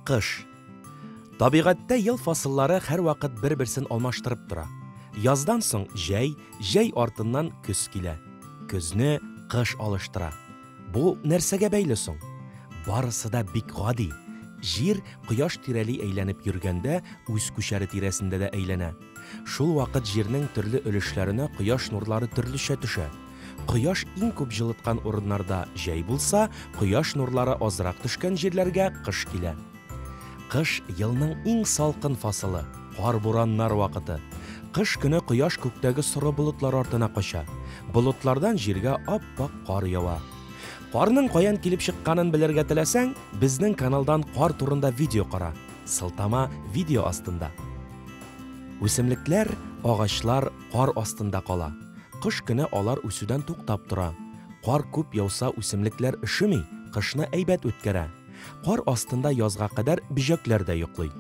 Кыш. Табигатьтә ел фасыллары һәрвакыт бер-берсен алмаштырып тора. Яздан соң җәй, җәй артыннан көз килә. Көзне кыш алыштыра. Бу нәрсәгә бәйле соң? Барысы да бик гади. Җир кояш тирәли әйләнеп йөргәндә, үз күчәре тирәсендә дә әйләнә. Шул вакыт җирнең төрле өлешләренә кояш нурлары төрлечә төшә. Кояш иң күп җылыткан урыннарда җәй булса, кояш нурлары азрак төшкән җирләргә кыш килә. Кыш, елның иң салкын фасылы, кар-бураннар вакыты. Кыш көне кояш күктәге соры болытлар артына кача. Болытлардан җиргә ап-ак кар ява. Карның каян килеп чыкканын белергә теләсәң, безнең каналдан кар турында видео кара. Сылтама видео астында. Үсемлекләр, агачлар кар астында кала. Кыш көне алар үсүдән туктап тора. Кар күп яуса, үсемлекләр өшеми, кышны әйбәт үткәрә. Кар астында язга кадәр бөҗәкләр дә йоклый.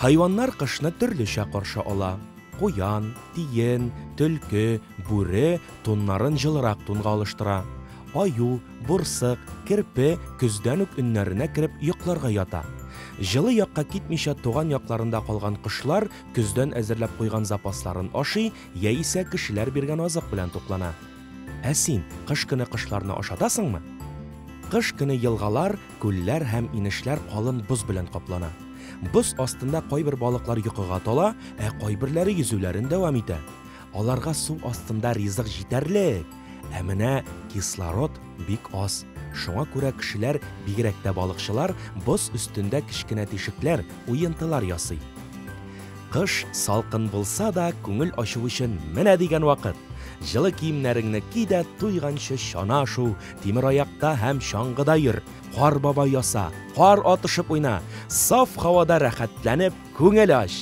Хайваннар кышны төрлечә каршы ала. Куян, тиен, төлке, бүре туннарын җылырак тунга алыштыра. Аю, борсык, керпе көздән үк өннәренә кереп йокларга ята. Җылы якка китмичә туган якларында калган кошлар көздән әзерләп куйган запасларын ашый яисә кешеләр биргән азык белән туклана. Ә син кыш көне кошларны ашатасыңмы? Кыш көне елгалар, күлләр һәм инешләр калын боз белән каплана. Боз астында кайбер балыклар йокыга тала, ә кайберләре йөзүләрен дәвам итә. Аларга су астында ризык җитәрлек, ә менә кислород бик аз. Шуңа күрә кешеләр, бигрәк тә балыкчылар, боз өстендә кечкенә тишекләр, уентылар ясый. Кыш салкын булса да, күңел ачу өчен менә дигән вакыт. Җылы киемнәреңне ки дә туйганчы чана шуу, тимер аякта һәм чаңгыда йөр, кар баба яса, кар атышып уйна, саф һавада рәхәтләнеп күңел ач!